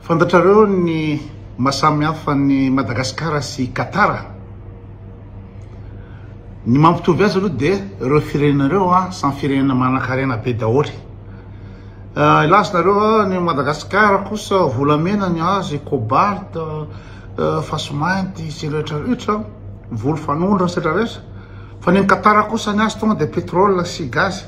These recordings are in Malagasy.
Fantatrareo ny maha samy hafa an'i Madagasikara sy i Qatar? Ny mampitovy azy aloha dia ireo firenena ireo samy firenena manan-karena be daholo. Hilaza nareo ny an'i Madagasikara kosa volamena ny azy, cobalt, fasy mainty sy ny rehetra rehetra, volo fanondro sy ny rehetra rehetra, fa ny an'i Qatar kosa ny azy tonga dia pétrole sy gaz.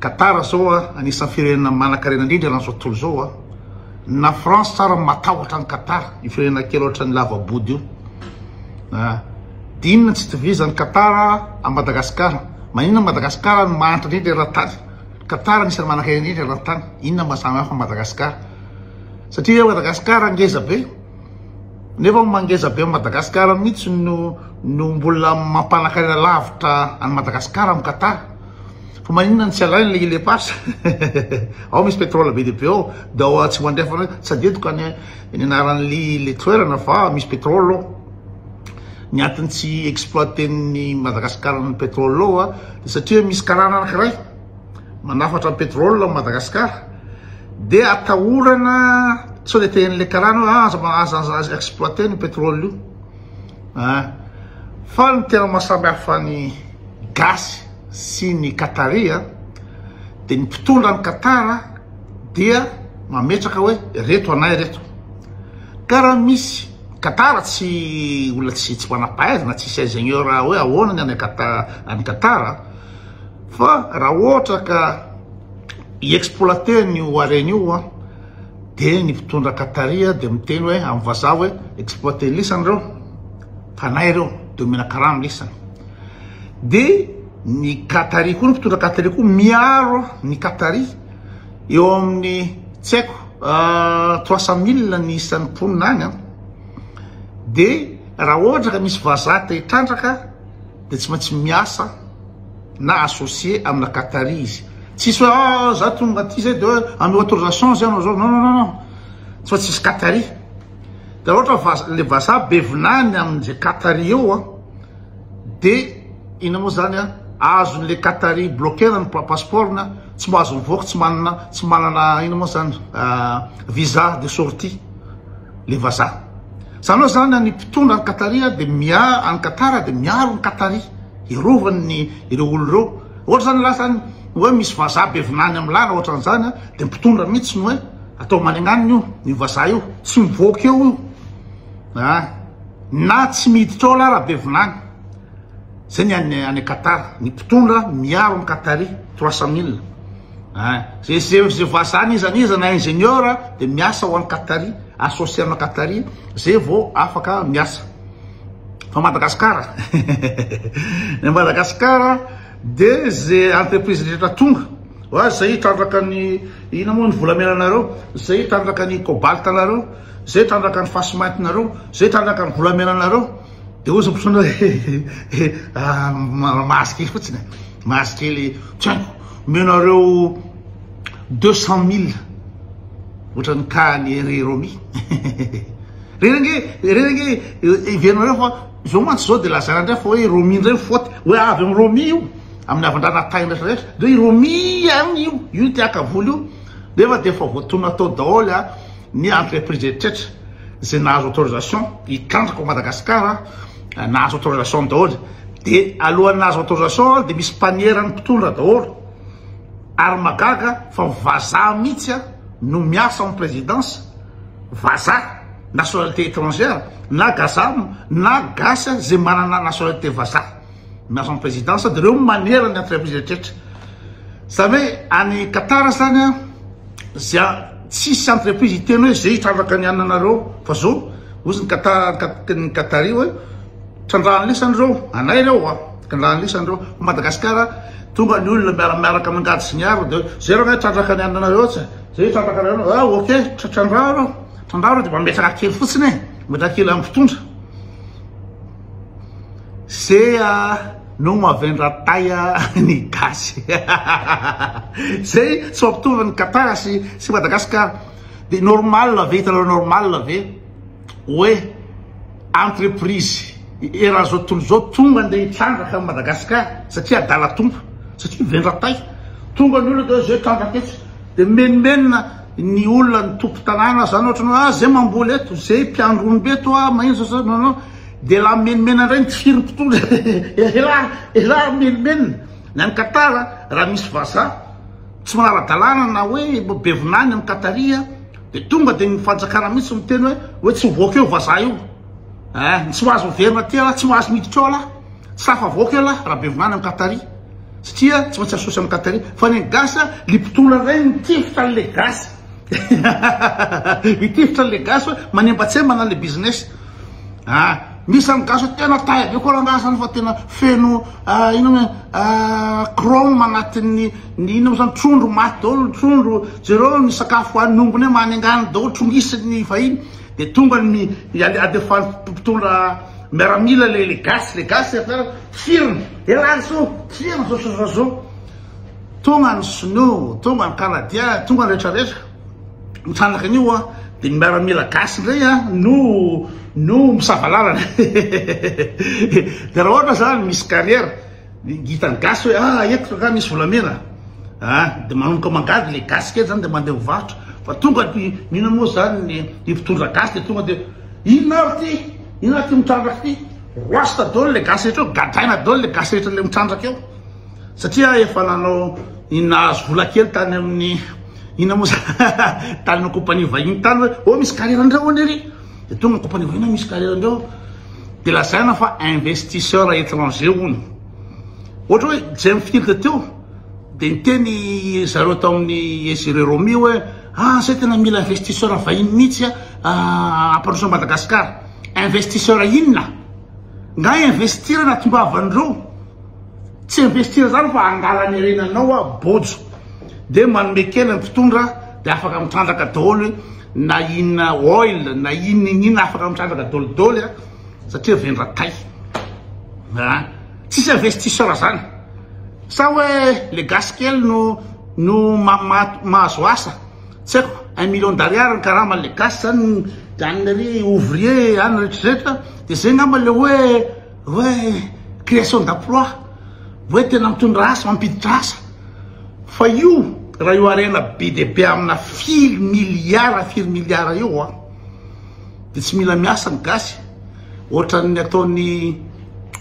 Qatar zao a anisan'ny firenena manankarena indrindra eran'izao tontolo izao a. Na France tsara matahotra an'i Qatar, io firenena kely ohatran'ny lava-body io. A Inona tsy itovizan'i Qatar amin'i Madagasikara? Maninona Madagasikara no mahantra indrindra eran-tany? Qatar anisan'ny manankarena indrindra eran-tany. Inona no mahasamy hafa Madagasikara? Satria hoe Madagasikara ngeza be, nefa ny mangeza be an'i Madagasikara mihitsy no no mbola mampanankarena lavitra an'i Madagasikara amin'i Qatar. Fa maninona no tsy alaina le ile pas? Ao misy petrole be dia be ao, de ao atsimo andrefana ao, tsy adidiko ny anaran'ny le toerana fa misy petrole ao. Ny antony tsy exploiten'ny Madagascar ny petrole ao a, de satria misy karana anakiray manafatra ny petrole ao Madagascar, de atahorana sao de tehin'le karana hoe aza aza aza exploiter ny petrole io. Fa ny tena mahasamy hafa ny gasy sy ny qatari dia ny mpitondra any Qatar dia mametraka hoe ireto anay ireto ka raha misy Qatar tsy olona tsy tsy manam-pahaizana tsisy ingénieur hoe ahoana ny any Qatar any Qatar fa raha ohatra ka hi-exploiter an'io harena io Dia ny mpitondra Qatari dia miteny hoe amin'ny vazaha hoe exploiter ny lisany ireo, fanahy ireo, dia omena karama ny lisany. Dia ny Qatari koa, ny mpitondra Qatari koa miaro ny Qatari eo amin'ny tsy haiko 300 euh, 000 ny isan'ny mponina any an. Dia raha ohatra ka misy vazaha te hitrandraka dia tsy maintsy miasa na associer amina qatari izy tsisy hoe ah za tonga aty zay dia hoe anao autorisation zay anao zao non non non tsy maintsy hisy qatari dia raha ohatra fa le vazaha be vinany amin'izay qatari eo a dia ina moa zany a azon'le qatari bloquer ny passeport-ny a tsy mba azo mivoaka tsy manana tsy manana ina moa zany visa de sortie le vazaha. Zany zany any mpitondra any Qataria de miaro any Qatar de miaro ny Qataria hiarovany ny ireo olona ireo. Ohatra zany raha zany hoe misy vazaha be vinany amin'ny làlana ohatra an'izany de ny mpitondra mihitsy no hoe atao manignanina io ny vazaha io tsy mivoaka eo io ah na tsy miditra ao lahy raha be vinany. Zay ny any any Qatar ny mpitondra miaro ny Qataria trois cent mille. Hein, zay zay zay vazaha n'iza n'iza na ingénieur de miasa ho any Qatari, associer anao Qatari zay vao afaka miasa. Fa Madagascar Ny Madagascar de ze entreprise rehetra tonga wa zay hitrandraka ny ina moa ny volamena nareo, zay hitrandraka ny cobalt nareo, zay hitrandraka ny fasimainty nareo, zay hitrandraka ny volamena nareo. Dia ozy ny mpisono hoe mahazo kely fotsiny e, mahazo kely tsy haiko, omenareo deux cent mille ohatran'ny cas ny ry Romy reny ange reny ange heverinareo fa zao mantsy zao dia lazaina indray fa hoe Romy indray ny faute, hoe avy amin'i Romy io amin'ny havandranan'i Tay rehetra rehetra, dia i Romy ihany io io tiakavoly io nefa dia efa voatonona tao daholo a. Ny entreprise rehetra izay nahazo autorisation hitrandraka ao Madagasikara, nahazo autorisation daholo. Dia alohan'ny nahazo autorisation dia misy mpaniera ny mpitondra daholo. Ary magaga fa vazaha mihitsy no miasa ao amin'ny présidence, vazaha, nationalité étrangère, na gazam, na gasy izay manana nationalité vazaha. Miasa am présidence de reo manera ny entreprise retretra zany hoe any Qatar zany a zia tsisy entreprise hiteny hoe ze hitrandraka ny ananareo fa zo ozy ny Qatar ny Qatari hoe trandrahany lesany reo anay reo a trandrahany lesany reo fa Madagascar tonga ny olona miara miaraka mangady sy miaro de ze reo hitrandraka ny ananareo tsy ze hitrandraka ny ananareo ah ok trandraho reo trandraho reo de mba metraka kely fotsiny e metraka kely am pitondra Zea no mavendra tay ny gasy zay tsy mampitovy ny Qatar sy sy Madagascar de normal ve hitanareo normal ve oe entreprise eran'izao tontolo izao tonga nde hitrandraka an'i Madagascar satria adala tompo satria vendra tay tonga ny olona de zay trandraka etsy de mimenomenona ny olona ny tompon-tanàna zany ohatran'ny hoe ah zay mamboly eto zay mpiandry omby eto ah maninona zao non non Dia la menimena indray ny tsiro mpitondra eh! Elah! Elah! Menimena ny any Qatar a! Raha misy vazaha tsy manara-dalàna na hoe be vinany any Qatari a! Dia tonga dia ny fanjakana mihitsy miteny hoe hoe tsy mivoaka eo vazaha io eh! Tsy mahazo miverina aty elah! Tsy mahazo miditra ao elah! Tsy tafavoaka eo elah! Raha be vinany any Qatari satria tsy maintsy asosy any Qatari! Fa ny gasy a! Lipitondra indray ny tifitra an'ilay gasy! Mitifitra le gasy hoe manembatsembana le business ah misy zany gasy tena taille be koa rangaha zany fa tena feno ah, ino moa ah, chrome anatin'ny ny ino moa zany trondro maty daholo ny trondro jereo ny sakafo hoan'ny ombiny hoe manengany daholo trongisin'ny vahiny de tonga ny alefany mpitondra miaramila le le gasy le gasy firina elany so firina so so so Tonga ny sinoa, tonga ny kanadia, tonga ny rehetra rehetra. Mitrandraka an'io an, dia ny miaramila gasy indray an, no no misava lalana. dia raha ohatra zany misy carrière, hitan'ny gasy hoe ah eto nga misy volamena. Ah, dia manomboka mangady le gasy kely zany dia mandeha mivarotra. Fa tonga ny inona moa zany ny mpitondra gasy dia tonga dia inona ary ty? Inona ary ty mitrandraka ty? Roasta daholo le gasy rehetra eo, gadraina daholo le gasy rehetra le mitrandraka eo. Satria efa nanao ny nahazo vola kely tany amin'ny inona moa zany tany amin'ny compagnie vahiny tany hoe oh misy carrière andrao anie ry de tonga ny compagnie vahiny misy carrière andrao de lazaina fa investisseur étranger hono ohatra hoe James Field teo de niteny zareo tao amin'ny Ezire Romy hoe ah zay tena mila investisseur vahiny mihitsy ah ampandroso an'i Madagasikara investisseur inona nga investir anatim-bavan'ireo Tsy investir zany fa angala ny harenanao a bojo de manome kely ny mpitondra de afaka mitrandraka daoly na inona oil na inona inona afaka mitrandraka daoly daoly a satria vendra tay a tsisy investisseur zany sa hoe le gasy kely no no mahazo asa tsy haiko un million d'ariary ny karama le gasy zany de any ry ouvrier any retraretra de zay ngamba le hoe Hoe création d'emploi, hoe tena mitondra asa, mampiditra asa. Fa io raha io harena be dia be amina firy milliards, firy milliards eo an, dia tsy mila miasa ny gasy, ohatran'ny ataon'ny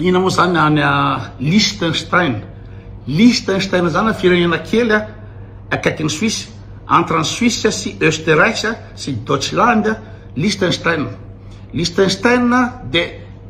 inona moa zany any Liechtenstein, Liechtenstein zany firenena kely akaikin'i Suisse, entre an'i Suisse sy Österreich sy Deutschland, Liechtenstein, Liechtenstein dia.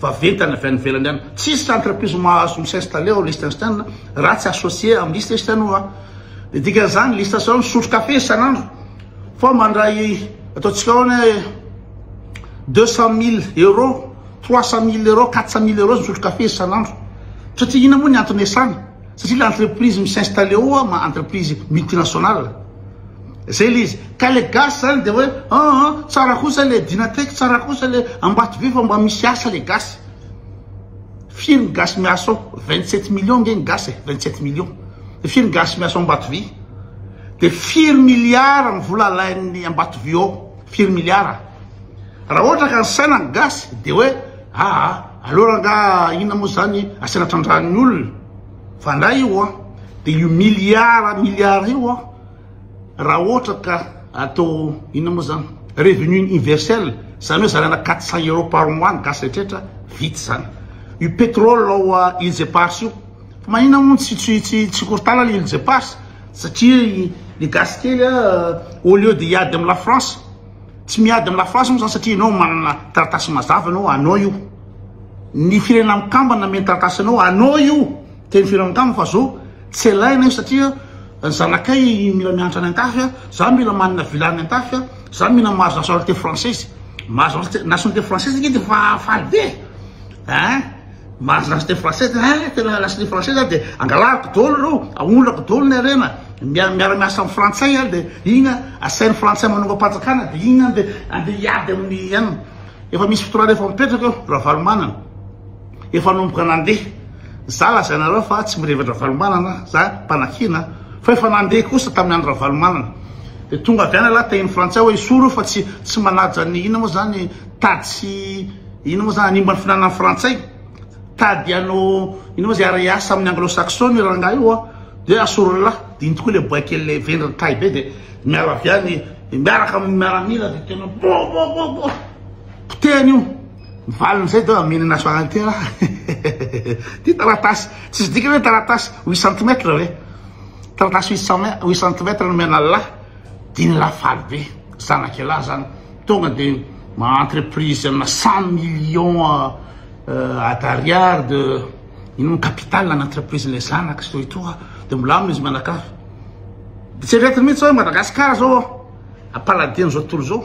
vaventy any avy any ivelany any. Tsisy entreprise mahazo mi s'installer ao Liechtenstein raha tsy associer am Liechtenstein oa. Ny dikany zany Liechtenstein misotro kafe isan'andro fa mandray ataontsika ahoana hoe deux cent mille euros, trois cent mille euros, quatre cent mille euros misotro kafe isan'andro. Satria inona moa ny antony iasany? Satria le entreprise mi s'installer ao ma entreprise multinationale zay le izy ka le gasy zany de hoe aa tsara kosa le dynatech tsara kosa le ambatobe fa mba misy asa le gasy firy ny gasy miasa ao vingt sept millions nge ny gasy e vingt sept millions de firy ny gasy miasa ao ambatobe de firy milliards ny vola alain'ny ambatobe ao firy milliards raha ohatra ka ny saina ny gasy de hoe Aa aleo rangaha inona moa zany asiana trandrahan'ny olona fa ndray io an dia io milliard milliard io an raha ohatra ka atao inona moa zany revenu universel zany hoe zaraina quatre cent euros par mois ny gasy rehetra vita zany io petrole ao îles éparses io fa maninona moa tsy tsy tsy tsy korontana ny îles éparses satria ny gasy kely a au lieu de hiady amin'ny la France tsy miady amin'ny lafy ratsy moa zany satria ianao manana taratasy mazava ianao anao io ny firenena mikambana meny taratasy anao anao io teny firenena mikambana fa zao tsy alaina io satria ny zanakay mila mianatra any an-tafy a za mila manana villa any an-tafy a za mila mahazo nationalité française mahazo nationalité française ange de fa faly be ein Marina sy teny français de eh tena lasa ny français zany dia angalako dolo reo aondrako dolo ny harena miara miara miasa amin'ny frantsay ary dia iny asain'ny frantsay manongam-panjakana dia iny any dia andeha hiady amin'ny ihany efa misy fotorana efa mipetraka eo ravalomanana efa nomboka nandeha za lazainareo fa tsy mirevatra ravalomanana za mpanakiana fa efa nandeha kosa tamin'ny andro ravalomanana dia tonga avy any lahy tahin'ny frantsay hoe isoro fa tsy tsy manaja ny ina moa zany tady sy Ino moa zany hanimba ny finanan'ny frantsay? Tady anao ino moa zay ary hiasa amin'ny anglo saxon io rangahy io a? Dia asorolahy, dino tokoa ilay boay kely ilay vendrana tahy be dia miala avy any miaraka amin'ny miaramila dia tena bo bo bo bo potehany io. Ny valiny izay dia amena nationale tena ty taratasy tsisy dikany hoe taratasy huit centimètres ve? Taratasy huit centimètres no mianalahy. Dinlah faly be zanaky elah zany tonga de ma entreprise amina cent millions a d'ariary de ino mo capital an entreprise le zanaky zao etoa de milamina izy mianakavy de tsy eretiny mintsy oe Madagascar zao a a paladino izao tontolo izao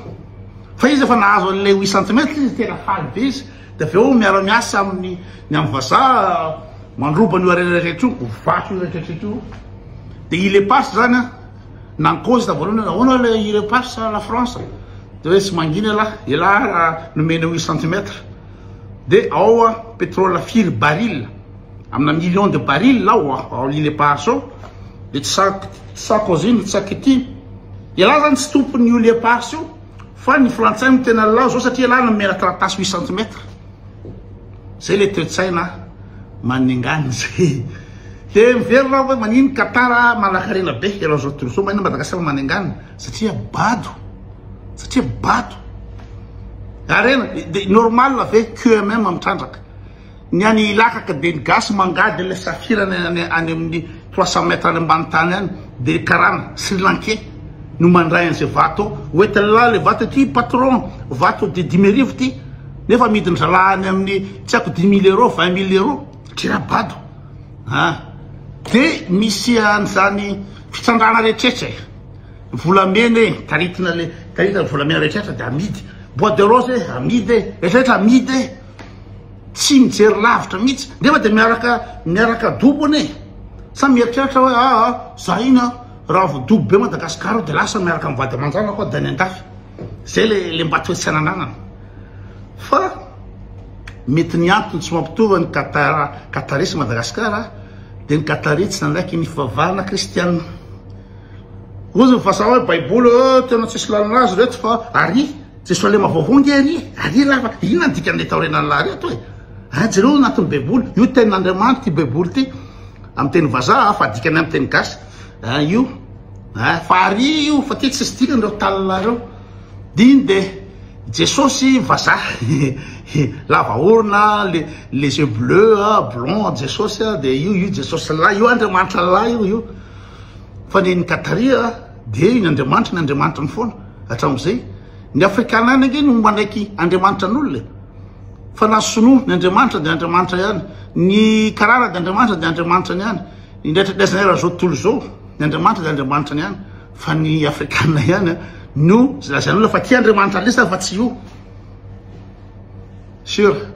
fa izy efa nahazo anle huit centimètre izy tena faly be izy de avy eo miara miasa aminy ny am vazaha mandroba an'io harena rehetra io vato io rehetra rehetra io de il est pas zany a Nankozy tamin'ny voalohany hoe ahoana ilay i Repars sa la France? Dia hoe tsy mangina ialahy, ialahy raha nomena an'io centimètre. Dia ao a, pétrole firy baril? Amina million de baril ao a, ao l'île Eparses ao. Dia tsy sa- tsy Sarkozy no tsy sa Ketty. Ialahy izany tsy tompon'io l'île Eparses io fa ny frantsay no tena lalao izao satria ialahy no nomena taratasy huit centimètre. Zay le toetsaina maningana zay. Te miverina aho hoe manino Qatar manankarena be ianao zao tontolo izao, manino Madagascar maningana satria bado, satria bado. Harena de normal ve QMM mitrandraka. Ny any Ilakaka de ny gasy mangady an'ilay safira any amin'ny trois cent mètres any ambany tany any de karana Sri Lankais no mandray an'izay vato ao. Ho entin'lah le vato ity patron, vato de dimy arivo ity. nefa amidiny zalahy any amin'ny tsy haiko dix mille euros, vingt mille euros, dra bado a de misy an'izany fitsandrana rehetrrehetra e volamena e taritina le taritina ny volamena rehetrrehetra de amidy bois de rose e amidy e rehetrrehetra amidy e tsy mijery lavitra mihitsy nefa de miaraka miaraka dobony e sa mieritreritra hoe aa za iny a raha vao dobo be madagasikara aho de lasa miaraka mivady aman-janako aho de any an-dafy zay le le mba toe-tsaina ananana Fa mety ny antony tsy mampitovy ny Qatar, Qataris sy Madagascar dia ny Qataris tsy nanaiky ny fivavahana kristiana. Ozy ny vazaha hoe baiboly oh, eh, tena tsisy lalana azy reto fa ary Jesosalema vaovao nge ary ary lava inona dikan'ilay taorenan'ny lahy reto e. Ah, jereo anatin'ny baiboly io tenin'Andriamanitra ity baiboly ity amin'ny teny vazaha fa dikany amin'ny teny gasy. Ah, io. Ah, fa ary io fa ty tsisy dikany ireo talina ireo. Diny de Jesosy vazaha lava orona les yeux bleus blond Jesosy de io io Jesosy lahy io Andriamanitra lahy io io fa ny an'i Kataria de iny Andriamanitra ny Andriamanitra foana hatramin'izay ny afrikana any ange no manaiky Andriamanitra an'olona fa na sinoa ny Andriamanitra de Andriamanitra ihany ny karana de Andriamanitra de Andriamanitra ihany indraitraidraisanay raha zao tontolo zao ny Andriamanitra de Andriamanitra ihany fa ny afrikana ihany no lazain'olona fa tia Andriamanitra lesy fa tsy io sur